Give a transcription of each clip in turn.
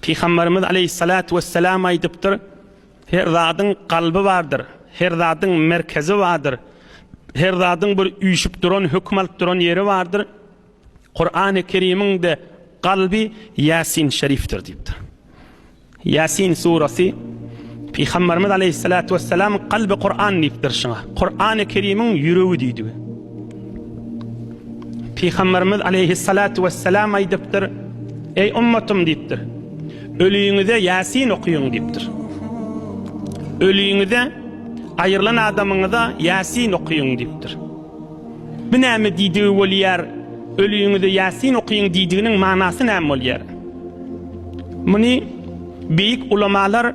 Pygamberimiz aleýhissalatu wesselam aýdypdyr, Her zadyň kalby bardyr, her zadyň merkezi bardyr, her zadyň bir üýşüp duran, höküm alyp duran ýeri bardyr. Kur'an-ı Kerim'in-de kalbi Yasin Şerif'tir diýipdir. Yasin suresi Peygamberimiz aleyhissalatu vesselam kalbi Kur'an diýipdir şuna. Kur'an-ı Kerim'in yüreği diýdi. Pygamberimiz aleýhissalatu wesselam aýdypdyr, Eý ummatym diýipdir. Ölüňize Ýasin okyň diýipdir. Ölüňize aýrylan adamyňyza Ýasin okyň diýipdir. Bu näme diýdigi bolýar? Ölüňize Ýasin okyň diýdiginiň manasy näme bolýar? Muny beýik ulamalar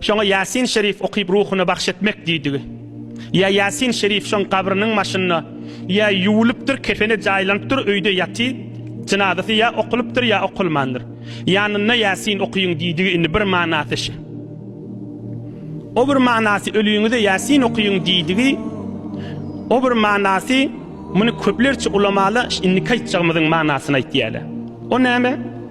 Şoňa Ýasin şerif okyp ruhuna bagş etmek diýdigi. Ýa Ýasin şerif şoň gabrynyň maşynda ýa ýuwulypdyr, kefene jaýlanypdyr, öýde ýaty, jynazasy ýa okulypdyr, ýa okulmandyr. Ýanynda Ýasin okyň diýdigi indi bir manasy şi. O bir manasy ölüňize Ýasin okyň diýdigi, o bir manasy muny köplerçe ulamalar indiki aýtjagymyzyň manasyny aýtýarlar. O näme?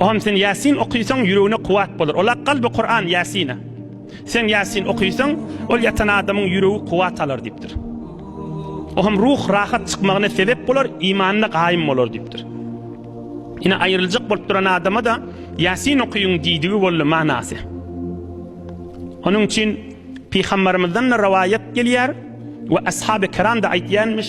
Ogam sen Ýasin okysaň ýüregine kuwat bolar. Ola kalby Kuran Ýasina. Sen Ýasin okysaň ol ýatan adamyň ýüregi kuwat alar diýipdir. Ogam ruh rahat çykmagyna sebep bolar, imanyna gaýym bolar diýipdir. Ine aýryljak bolup duran adama-da Ýasin okyň diýdigi boldy manasy. Onuň üçin Pygambarymyzdan-da rowaýat gelýär we ashaby kiram-da aýtýarmyş.